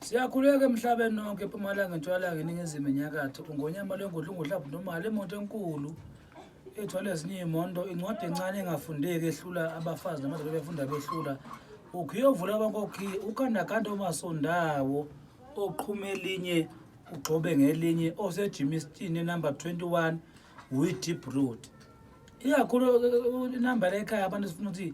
Siyakhuleka emhlabeni nonke epumalanga entshwalanga eningizimu enyakatho ungonyama lwengodla ungodlabhu nomali emoto enkulu ethwala ezinye iy'mondo incwadi encane engafundeki ehlula abafazi namadoda befunda behlula ukhiye ovula abankokhiye ukandakanda omasondawo oqhuma elinye ugxobe ngelinye osejimistin enumber 21 wideep road ikakhulu inumber ekhaya abantu sifuna ukuthi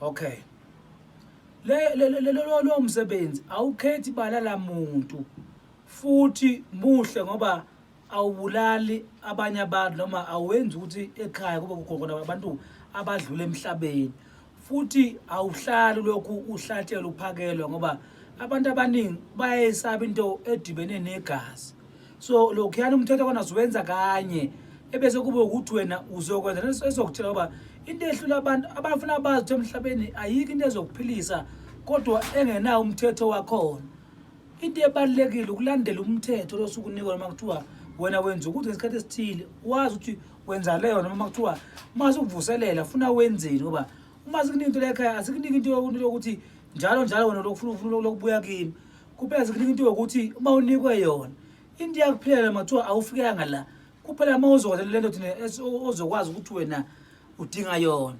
okay lelo msebenzi awukhethi ibala lamuntu futhi muhle ngoba awubulali abanye abantu noma awenzi ukuthi ekhaya kube kukhona abantu abadlule emhlabeni futhi awuhlali lokhu uhlatshelwa uphakelwa ngoba abantu abaningi bayayisaba into edibene negazi so lokhuyana umthetho kona ziwenza kanye ebese kube ukuthi wena uzokwenza leso esokutshela uba into ehlula abantu abafuna bazi ukuthi emhlabeni ayikho into ezokuphilisa kodwa engenawo umthetho wakhona into ebalulekile ukulandela umthetho losukunikwa noma kuthiwa wena wenza ukuthi ngesikhathi esithile wazi ukuthi wenza leyo noma kuthiwa uma sikuvuselela funa wenzeni ngoba uma sikunika into lekhaya asikuniki into yokuthi njalo njalo wena lokufuna ufuna lokubuya kimi kuphela zikunika into yokuthi uma unikwe yona into yakuphilela mathiwa awufikanga la kuphela uma uzokwazi le nto thina ozokwazi ukuthi wena udinga yona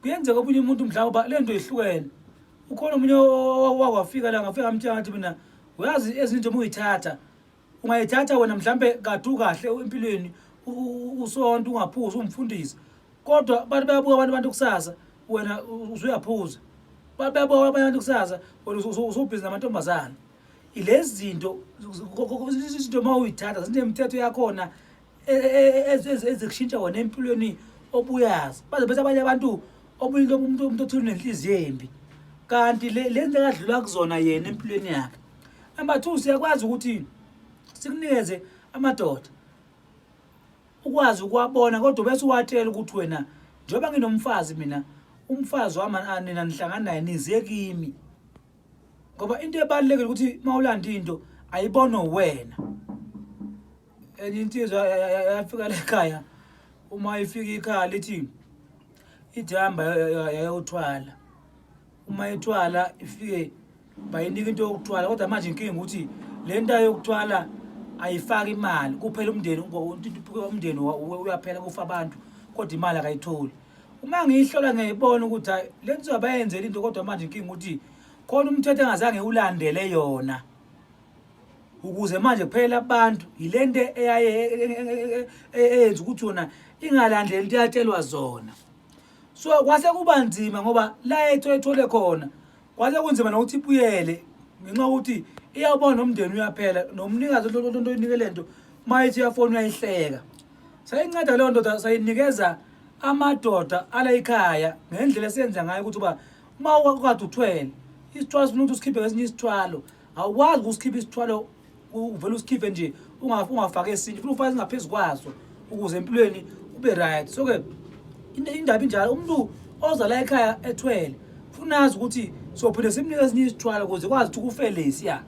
kuyenzeka omunye umuntu mhlawumbe uba le nto ihlukene ukhona omunye wakwafika la ngafika amtshela ngathi mina uyazi ezinye nje uma uyithatha ungayithatha wena mhlampe kade ukahle empilweni usonto ungaphuzi ungimfundisi kodwa abantu bayabuka abantu abantu kusasa wena usuyaphuza abantu bayabuka abanye abantu kusasa wena usubhizi namantombazane ilezi zinto izinto uma uyithatha zinemithetho yakhona e, e, e, ezikushintsha wona empilweni obuyazi baze bese abanye abantu obuyinto umuntu umuntu othile nenhliziyo embi kanti le lento ekadlula kuzona yena empilweni yakhe number 2 siyakwazi ukuthi sikunikeze amadoda ukwazi ukwabona kodwa bese uwatshela ukuthi wena njengoba nginomfazi mina umfazi wami anina nihlangana naye nize kimi ngoba into ebalulekile ukuthi uma ulanda into ayibonwe wena enye insizwa yafika lekhaya uma ifika ikhaya lithi ithi hamba yayothwala uma ethwala ifike bayinika into yokuthwala kodwa manje inkinga ukuthi le nto yokuthwala ayifaki imali kuphela umndeni umndeni uyaphela kufa abantu kodwa imali akayitholi uma ngiyihlola ngiyayibona ukuthi hayi le nto abayenzela into kodwa manje inkinga ukuthi khona umthetho engazange ulandele yona ukuze manje kuphela abantu yile nto eyaye eyenza ukuthi yona ingalandeli into eyatshelwa zona so kwase kuba nzima ngoba la ethu ethole khona kwase kunzima nokuthi ibuyele ngenxa yokuthi iyawubona nomndeni uyaphela nomnikazi onto oyinikele nto uma ithi uyafona uyayihleka sayinceda leyo ndoda sayinikeza amadoda ala ikhaya ngendlela esiyenza ngayo ukuthi uba uma ukade uthwele isithwalo sifuna ukuthi usikhiphe ngesinye isithwalo awukwazi ukusikhipha isithwalo uvele usikhiphe nje ungafaki esinye funa ufake singaphezu kwaso ukuze empilweni ube right so-ke indaba injalo umuntu oza la ekhaya ethwele funa azi ukuthi sophinde simnike esinye isithwalo ukuze kwazi ukuthi ukufelesi ya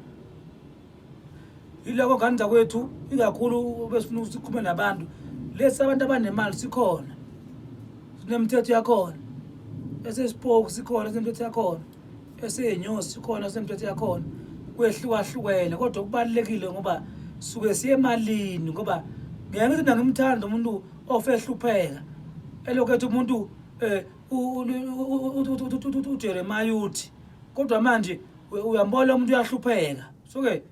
yiloko ngane zakwethu ikakhulu besifuna ukuthi sikhulume nabantu lesi abantu abanemali sikhona sinemithetho yakhona esesipoku sikhona sinemithetho yakhona eseyinyosi sikhona sinemithetho yakhona kwehlukahlukene kodwa kubalulekile ngoba suke siye emalini ngoba ngeke ngithi mina ngimthanda umuntu ofe ehlupheka elokhu ethi umuntu um ujeremaya uthi kodwa manje uyambona umuntu uyahlupheka soke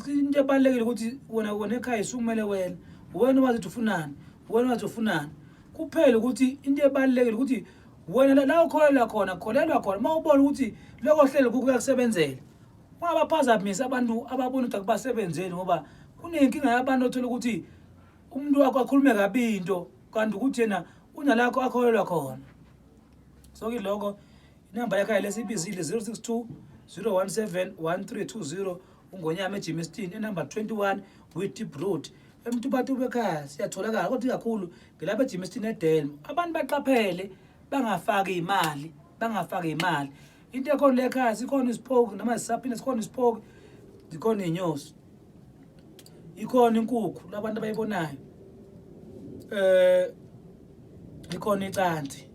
into ebalulekile ukuthi wena wena ekhaya sukumele wena wena wazi ukuthi ufunani wena wazi ufunani kuphela ukuthi into ebalulekile ukuthi wena la ukholelwa khona kholelwa khona uma ubona ukuthi lokho hlelo kukuyakusebenzela ungabaphazamisi abantu ababona ukuthi akubasebenzeli ngoba kunenkinga yabantu othola ukuthi umuntu wakho akhulume kabi into kanti ukuthi yena unalakho akholelwa khona so kiloko inamba yakhe yale siyibizile 062 017 1320 ungonyama ejimistin enumber 21 witip road emtubatu bekhaya siyatholakala kodwa ikakhulu ngilapha ejimistin edelm abantu baqaphele bangafaki imali bangafaki imali into ekhona lekhaya sikhona isipoki noma sisaphinde sikhona isipoki zikhona iy'nyosi ikhona inkukhu labantu abayibonayo eh ikhona icanti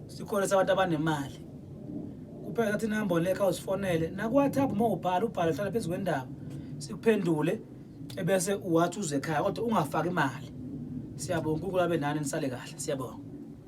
sikhona sabantu abanemali kuphela thatha inamba lekha usifonele nakuwhatsapp uma ubhala ubhala hlala phezu kwendaba sikuphendule ebese uwathi uze ekhaya kodwa ungafaki imali siyabonga unkulunkulu abe nani nisale kahle siyabonga